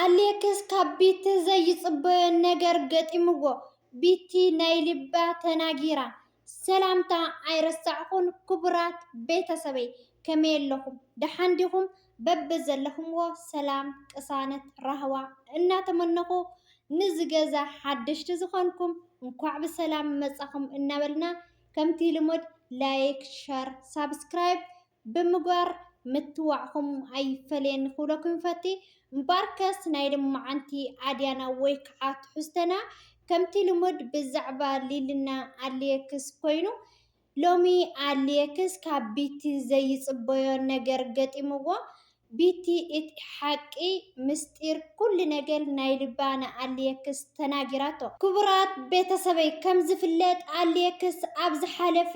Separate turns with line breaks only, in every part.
ኣሌክስ ካብ ቢቲ ዘይጽበዮ ነገር ገጢምዎ ቢቲ ናይ ልባ ተናጊራ። ሰላምታ ኣይረሳዕኩን ክቡራት ቤተሰበይ ከመይ ኣለኹም ደሓን ዲኹም በብዘለኹምዎ ሰላም ቅሳነት ራህዋ እናተመነኹ ንዚ ገዛ ሓደሽቲ ዝኾንኩም እንኳዕ ብሰላም መጻኹም እናበልና ከምቲ ልሙድ ላይክ ሸር ሳብስክራይብ ብምግባር ምትዋዕኹም ኣይፈለየኒ ክብለኩም ይፈቲ። እምበኣርከስ ናይ ልማዓንቲ ኣድያና ወይ ከዓ ትሕዝቶና ከምቲ ልሙድ ብዛዕባ ሊልና ኣሊየክስ ኮይኑ ሎሚ ኣሊየክስ ካብ ቢቲ ዘይፅበዮ ነገር ገጢምዎ ቢቲ እቲ ሓቂ ምስጢር ኩሉ ነገር ናይ ልባ ንኣሊየክስ ተናጊራቶ። ክቡራት ቤተሰበይ ከምዝፍለጥ ኣሊየክስ ኣብ ዝሓለፈ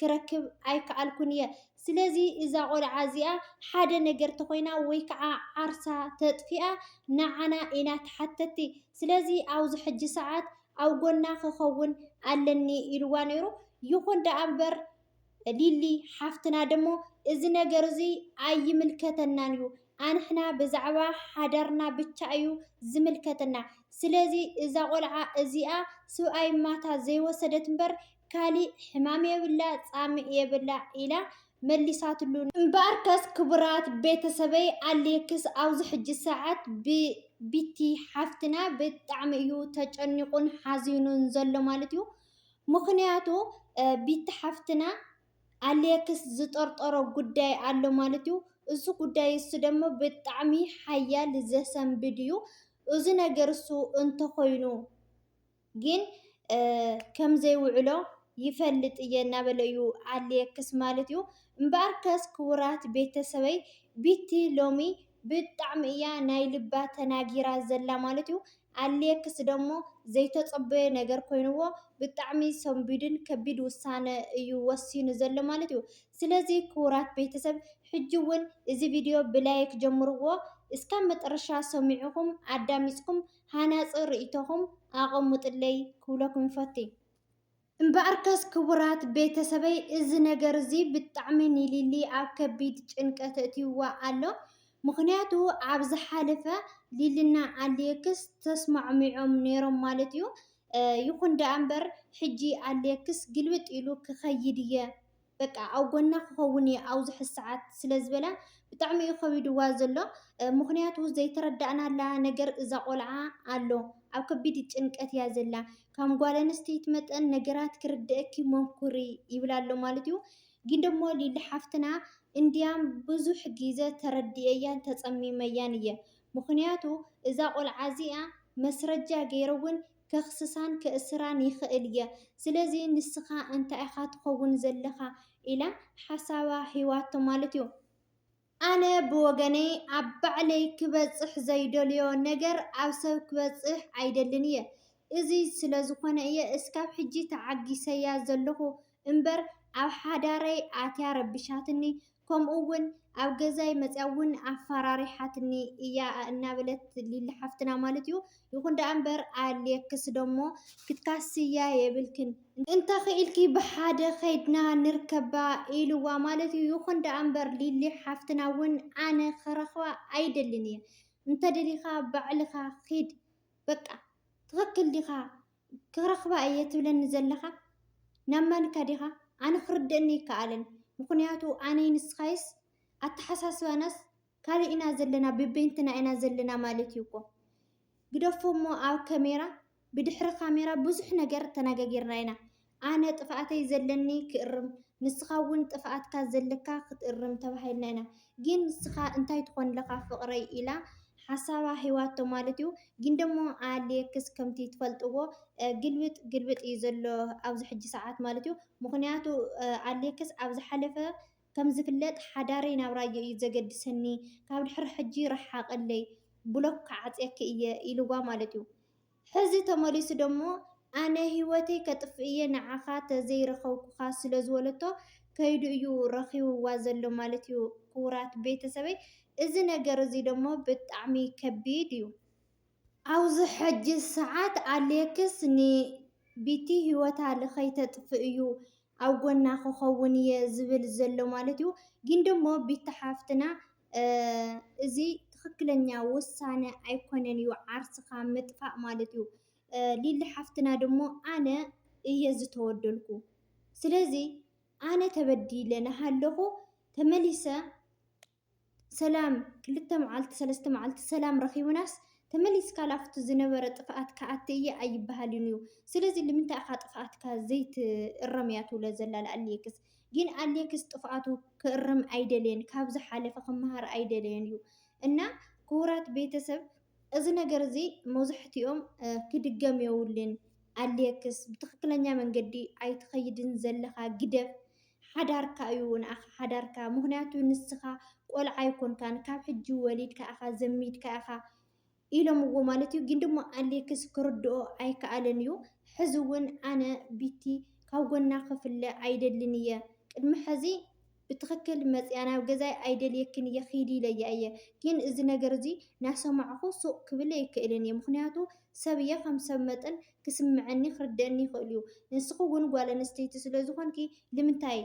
ክረክብ ኣይከኣልኩን እየ ስለዚ እዛ ቆልዓ እዚኣ ሓደ ነገር ተኾይና ወይ ከዓ ዓርሳ ተጥፊኣ ንዓና ኢና ተሓተቲ ስለዚ ኣብዚ ሕጂ ሰዓት ኣብ ጎና ክኸውን ኣለኒ ኢልዋ ነይሩ ይኹን ደኣ እምበር ሊሊ ሓፍትና ደሞ እዚ ነገር እዚ ኣይምልከተናን እዩ ኣንሕና ብዛዕባ ሓዳርና ብቻ እዩ ዝምልከተና ስለዚ እዛ ቆልዓ እዚኣ ስብኣይ ማታ ዘይወሰደት እምበር ካሊእ ሕማም የብላ ፃምእ የብላ ኢላ መሊሳትሉ። እምበኣርከስ ክቡራት ቤተሰበይ ኣሌክስ ኣብዚ ሕጂ ሰዓት ብቢቲ ሓፍትና ብጣዕሚ እዩ ተጨኒቑን ሓዚኑን ዘሎ ማለት እዩ። ምኽንያቱ ቢቲ ሓፍትና ኣሌክስ ዝጠርጠሮ ጉዳይ ኣሎ ማለት እዩ። እዚ ጉዳይ እሱ ደግሞ ብጣዕሚ ሓያል ዘሰንብድ እዩ። እዚ ነገር እሱ እንተኾይኑ ግን ከምዘይውዕሎ ይፈልጥ እየ እናበለ እዩ ኣሌክስ ማለት እዩ። እምበኣርከስ ክቡራት ቤተሰበይ ቢቲ ሎሚ ብጣዕሚ እያ ናይ ልባ ተናጊራ ዘላ ማለት እዩ። ኣሌክስ ደሞ ዘይተጸበዮ ነገር ኮይንዎ ብጣዕሚ ሰንቢዱን ከቢድ ውሳነ እዩ ወሲኑ ዘሎ ማለት እዩ። ስለዚ ክቡራት ቤተሰብ ሕጂ እውን እዚ ቪድዮ ብላይክ ጀምርዎ እስካብ መጠረሻ ሰሚዕኹም ኣዳሚፅኩም ሃናጺ ርእይቶኹም ኣቐሙጥለይ ክብለኩም ይፈቲ። እምበኣርከስ ክቡራት ቤተሰበይ እዚ ነገር እዚ ብጣዕሚ ንሊሊ ኣብ ከቢድ ጭንቀት ኣእትይዋ ኣሎ። ምኽንያቱ ኣብ ዝሓለፈ ሊሊና ኣሌክስ ተስማዕሚዖም ነይሮም ማለት እዩ። ይኹን ደኣ እምበር ሕጂ ኣሌክስ ግልብጥ ኢሉ ክኸይድ እየ በቃ ኣብ ጎና ክኸውን እየ ኣብ ዝሕዝ ሰዓት ስለ ዝበላ ብጣዕሚ እዩ ከቢድዋ ዘሎ ምኽንያቱ ዘይተረዳእናላ ነገር እዛ ቆልዓ ኣሎ ኣብ ከቢድ ጭንቀት እያ ዘላ ካም ጓል ኣንስተይቲ መጠን ነገራት ክርደእኪ ሞኩሪ ይብላ ኣሎ ማለት እዩ ግን ደሞ ሊሊ ሓፍትና እንድያም ብዙሕ ግዘ ተረዲኤያን ተጸሚመያን እየ ምኽንያቱ እዛ ቆልዓ እዚኣ መስረጃ ገይረ እውን ከኽስሳን ከእስራን ይኽእል እየ ስለዚ ንስኻ እንታይ ኢኻ ትኸውን ዘለኻ ኢላ ሓሳባ ሂባቶ ማለት እዩ። ኣነ ብወገነይ ኣብ ባዕለይ ክበጽሕ ዘይደልዮ ነገር ኣብ ሰብ ክበጽሕ ኣይደልን እየ እዚ ስለዝኾነ እየ እስካብ ሕጂ ተዓጊሰያ ዘለኹ እምበር ኣብ ሓዳረይ ኣትያ ረቢሻትኒ ከምኡ ውን ኣብ ገዛይ መፅያ ውን ኣፋራሪሓትኒ እያ እናበለት ሊሊ ሓፍትና ማለት እዩ ይኹን ደኣ እምበር ኣልየክስ ደሞ ክትካስያ የብልክን እንተኽኢልኪ ብሓደ ከይድና ንርከባ ኢልዋ ማለት እዩ ይኹን ደኣ እምበር ሊሊ ሓፍትና ውን ኣነ ክረኽባ ኣይደልን እየ እንተደሊኻ ባዕልኻ ኺድ በቃ ትኽክል ዲኻ ክረኽባ እየ ትብለኒ ዘለኻ ናብ ማንካ ዲኻ ኣነ ክርደእኒ ኣይከኣለን ምኽንያቱ ኣነይ ንስኻይስ ኣተሓሳስባናስ ካልእ ኢና ዘለና በበይንትና ኢና ዘለና ማለት እዩ እኮ ግደፎ እሞ ኣብ ከሜራ ብድሕሪ ካሜራ ብዙሕ ነገር ተናጋጊርና ኢና ኣነ ጥፍኣተይ ዘለኒ ክእርም ንስኻ ውን ጥፍኣትካ ዘለካ ክትእርም ተባሂልና ኢና ጊን ንስኻ እንታይ ትኾን ለኻ ፍቅረይ ኢላ ሓሳባ ሂባቶ ማለት ዩ ጊን ደሞ ኣሌክስ ከምቲ ትፈልጥዎ ግልብጥ ግልብጥ ዩ ዘሎ ኣብዚ ሕጂ ሰዓት ማለት ዩ ምኽንያቱ ኣሌክስ ኣብ ዝሓለፈ ከም ዝፍለጥ ሓዳረይ ናብ ራዮ ዩ ዘገድሰኒ ካብ ድሕሪ ሕጂ ርሓቅለይ ብሎክ ክዓጽየኪ ኢየ ኢልዋ ማለት ዩ ሕዚ ተመሊሱ ደሞ ኣነ ሂወተይ ከጥፍእ እየ ንዓኻ ተዘይረኸብኩኻ ስለዝበለቶ ከይዱ እዩ ረኺብዋ ዘሎ ማለት እዩ ክቡራት ቤተሰበይ እዚ ነገር እዚ ደሞ ብጣዕሚ ከቢድ እዩ። ኣብዚ ሕጂ ሰዓት ኣሌክስ ን ቢቲ ሂወታ ልከይተጥፍእ እዩ ኣብ ጎና ክኸውን እየ ዝብል ዘሎ ማለት እዩ ግን ደሞ ቢቲ ሓፍትና እዚ ትክክለኛ ውሳነ ኣይኮነን እዩ ዓርስካ ምጥፋእ ማለት እዩ ሊሊ ሓፍትና ደሞ ኣነ እየ ዝተወደልኩ ስለዚ ኣነ ተበዲለ ናሃለኩ ተመሊሰ ሰላም ክልተ መዓልቲ ሰለስተ መዓልቲ ሰላም ረኪብናስ ተመሊስካ ላብቲ ዝነበረ ጥፍኣት ክኣቲ እየ ኣይበሃልን እዩ ስለዚ ልምንታይ ኢካ ጥፍኣትካ ዘይትእረም እያ ትብሎ ዘላ ላኣሊክስ ግን ኣሌክስ ጥፍኣቱ ክእርም ኣይደለየን ካብ ዝሓለፈ ክመሃር ኣይደለየን እዩ እና ክቡራት ቤተሰብ እዚ ነገር እዚ መብዛሕትኦም ክድገም የብሉን ኣሌክስ ብትክክለኛ መንገዲ ኣይትኸይድን ዘለኻ ግደፍ ሓዳርካ እዩ ንኣኻ ሓዳርካ ምኽንያቱ ንስኻ ቆልዓ ኣይኮንካን ካብ ሕጂ ወሊድካ ኢኻ ዘሚድካ ኢኻ ኢሎምዎ ማለት እዩ ግን ድማ ኣሌክስ ክርድኦ ኣይከኣለን እዩ ሕዚ እውን ኣነ ቢቲ ካብ ጎና ክፍለ ኣይደልን እየ ቅድሚ ሕዚ ብትኽክል መፅኣ ናብ ገዛይ ኣይደልየክን እየ ኺዲ ኢለያ እየ ግን እዚ ነገር እዚ ናሰማዕኹ ሱቕ ክብል ኣይክእልን እየ ምኽንያቱ ሰብ እየ ከም ሰብ መጠን ክስምዐኒ ክርደኣኒ ይኽእል እዩ ንስኺ እውን ጓል ኣንስተይቲ ስለዝኾንኪ ልምንታይ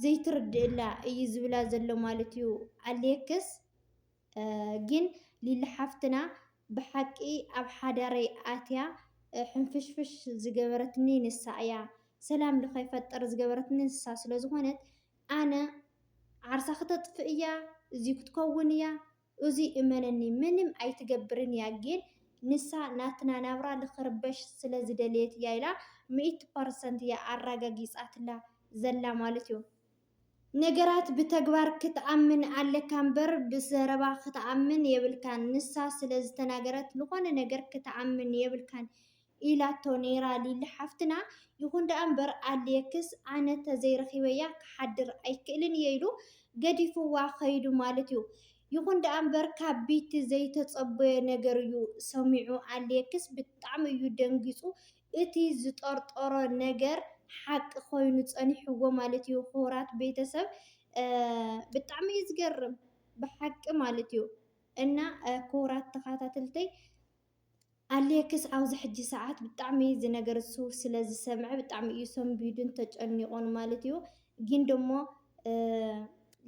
ዘይትርድእላ እዩ ዝብላ ዘሎ ማለት እዩ ኣሌክስ ግን ሊሊ ሓፍትና ብሓቂ ኣብ ሓዳረይ ኣትያ ሕንፍሽፍሽ ዝገበረትኒ ንሳ እያ ሰላም ልከይፈጥር ዝገበረትኒ ንሳ ስለዝኮነት ኣነ ዓርሳ ክተጥፍእ እያ እዙይ ክትከውን እያ እዙይ እመነኒ ምንም ኣይትገብርን እያ ግን ንሳ ናትና ናብራ ልክርበሽ ስለ ዝደለየት እያ ኢላ ሚእቲ ፐርሰንት እያ ኣራጋጊፃትላ ዘላ ማለት እዩ። ነገራት ብተግባር ክትኣምን ኣለካ እምበር ብዘረባ ክትኣምን የብልካን ንሳ ስለ ዝተናገረት ልኾነ ነገር ክትኣምን የብልካን ኢላቶ ነይራ ሊሊ ሓፍትና። ይኹን ደኣ እምበር ኣሌክስ ኣነ ተዘይረኺበያ ክሓድር ኣይክእልን እየ ኢሉ ገዲፍዋ ከይዱ ማለት እዩ። ይኹን ደኣ እምበር ካብ ቢቲ ዘይተፀበዮ ነገር እዩ ሰሚዑ። ኣሌክስ ብጣዕሚ እዩ ደንጊፁ እቲ ዝጠርጠሮ ነገር ሓቂ ኮይኑ ፀኒሕዎ ማለት እዩ። ኽቡራት ቤተሰብ ብጣዕሚ እዩ ዝገርም ብሓቂ ማለት እዩ። እና ኽቡራት ተኻታተልተይ ኣሌክስ ኣብዚ ሕጂ ሰዓት ብጣዕሚ እዚ ነገር እሱ ስለ ዝሰምዐ ብጣዕሚ እዩ ሰንቢዱን ተጨኒቆን ማለት እዩ። ግን ደሞ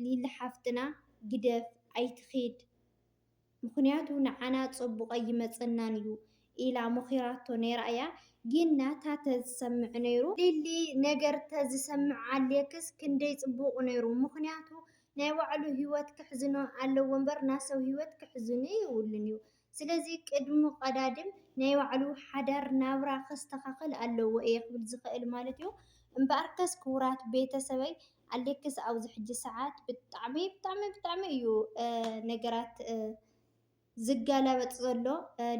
ሊሊ ሓፍትና ግደፍ ኣይትኺድ ምኽንያቱ ንዓና ጸቡቅ ኣይመጸናን እዩ ኢላ መኺራቶ ነይራ እያ። ግን ናታ ተዝሰምዕ ነይሩ ሊሊ ነገር ተዝሰምዕ ኣሌክስ ክንደይ ጽቡቅ ነይሩ ምኽንያቱ ናይ ባዕሉ ሂወት ከሕዝኖ ኣለዎ እምበር ናይ ሰብ ሂወት ከሕዝኖ የብሉን እዩ። ስለዚ ቅድሚ ቀዳድም ናይ ባዕሉ ሓዳር ናብራ ከስተኻኽል ኣለዎ እየ ክብል ዝኽእል ማለት እዩ። እምበኣርከስ ክቡራት ቤተሰበይ ኣሌክስ ኣብዚ ሕጂ ሰዓት ብጣዕሚ ብጣዕሚ ብጣዕሚ እዩ ነገራት ዝገላበጥ ዘሎ።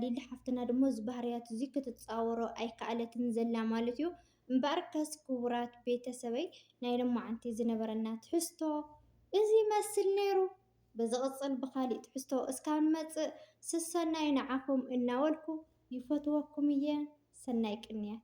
ሊሊ ሓፍትና ድማ እዚ ባህርያት እዚ ክትፃወሮ ኣይከኣለትን ዘላ ማለት እዩ። እምበኣርከስ ክቡራት ቤተሰበይ ናይ ሎማዓንቲ ዝነበረና ትሕዝቶ እዚ ይመስል ነይሩ። ብዝቕጽል ብኻሊእ ትሕዝቶ እስካብ ንመጽእ ስሰናዩ ንዓኹም እናበልኩ ይፈትወኩም እየ ሰናይ ቅንያት።